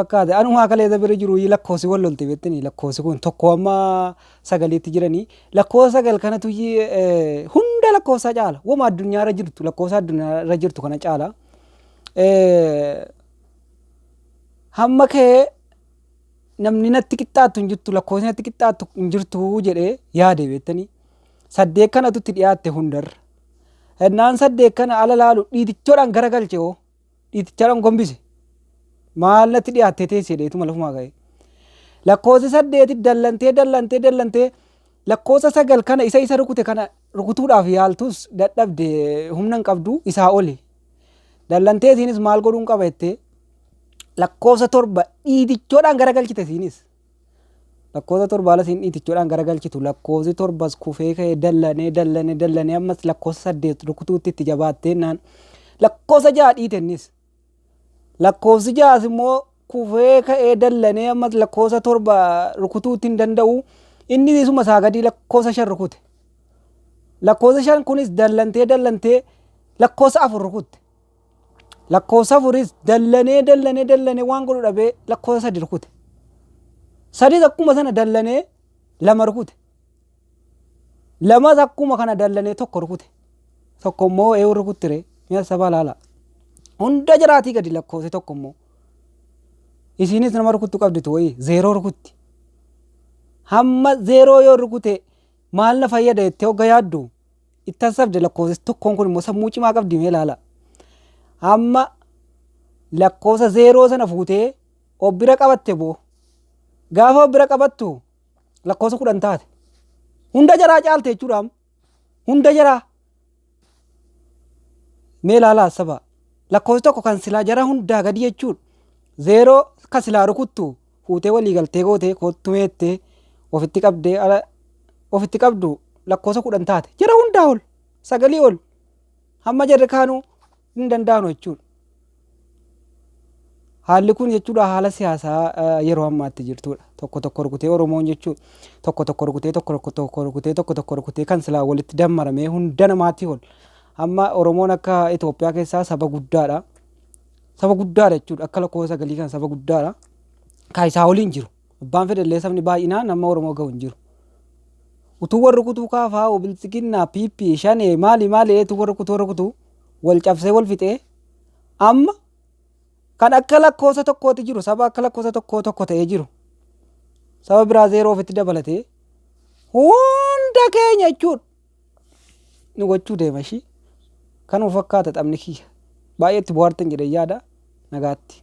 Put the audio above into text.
fakkaate anumaa kaleessa bira jiru yi lakkoosi wal lolte bettani lakkoosi kun tokko amma sagaliitti jirani lakkoosa sagal kanatu yi hunda lakkoosaa caala wama addunyaa irra jirtu lakkoosa addunyaa irra jirtu kana caala hamma kee namni natti qixxaattu hin jirtu lakkoofsi natti qixxaattu hin jirtu jedhee yaade bettani saddeet kanatu itti dhiyaatte hundarra hennaan saddeet kana ala laalu dhiitichoodhaan garagalche hoo Dhiitichaadhaan gombise. Maal natti dhiyaattee teessi jedhee ituma lafumaa ka'ee. Lakkoofsa saddeeti dallantee dallantee dallantee lakkoofsa sagal kana isa isa rukute kana rukutuudhaaf yaaltus dadhabde humna hin qabdu isaa oli. Dallantee isiinis maal godhuun qaba jettee lakkoofsa torba dhiitichoodhaan garagalchite isiinis. Lakkoofsa torba ala siin dhiitichoodhaan garagalchitu. Lakkoofsi torbas kufee ka'ee dallanee dallanee dallanee ammas lakkoofsa saddeet rukutuutti itti jabaatteennaan lakkoofsa ja'a dhiitennis. Lakkoofsi ja'as immoo kufee ka'ee dallanee ammas lakkoofsa torba rukutuutti hin danda'u. Inni isuma isaa gadii lakkoofsa shan rukute. Lakkoofsa shan kunis dallantee dallantee lakkoofsa afur rukutte. Lakkoofsa afuris dallanee dallanee dallanee waan godhu dhabee lakkoofsa sadi rukute. Sadis akkuma sana dallanee lama rukute. Lamas akkuma kana dallanee tokko rukute. Tokko immoo eewu rukuttire mi'a sabaa laala. Hunda jiraatii gadi lakkoofsi tokko immoo. Isiinis nama rukuttu qabditu wayii zeeroo rukutti. Hamma zeeroo yoo rukute maal na fayyada jettee hogga yaaddu itti hassabde lakkoofsa tokkoon kun immoo sammuu cimaa qabdi mee ilaala. Amma lakkoofsa zeeroo sana fuutee of bira qabatte boo. Gaafa of bira qabattu lakkoofsa kudhan taate. Hunda jaraa caalte jechuudha amma. Hunda jaraa. Mee ilaala hassaba. Lakkoofsi tokko kan silaa jara hundaa gadi jechuudha. Zeeroo kan silaa rukuttu fuutee walii galtee gootee koottu meettee ofitti qabdee ala ofitti qabdu lakkoosa kudhan taate jara hundaa ol sagalii ol hamma jarri kaanuu hin danda'anu jechuudha. Haalli kun jechuudha haala siyaasaa yeroo ammaatti jirtudha. Tokko tokko rukutee Oromoon jechuudha. Tokko tokko rukutee tokko tokko rukutee tokko tokko rukutee kan silaa walitti dammaramee hunda namaatii ol. Amma Oromoon akka Itoophiyaa keessaa saba guddaadha. Saba guddaadha jechuudha. Akka lakkoofsa galii kan saba guddaadha. Kan isaa olii hin jiru. Abbaan fedhallee sabni baay'inaan amma Oromoo gahu hin jiru. Utuu warri kutuu kaafaa obiltsiginnaa piippii shanee maali maali eetu warri kutuu warri kutuu wal cabsee wal fixee amma kan akka lakkoofsa tokkooti jiru saba akka lakkoofsa tokkoo tokko ta'ee jiru saba biraa zeeroo ofitti dabalatee hunda keenya jechuudha. ni gochuu deema ishii kanuma fakkaata taphni kiyya baay'eetti bohaartan jedhee yaada nagaatti.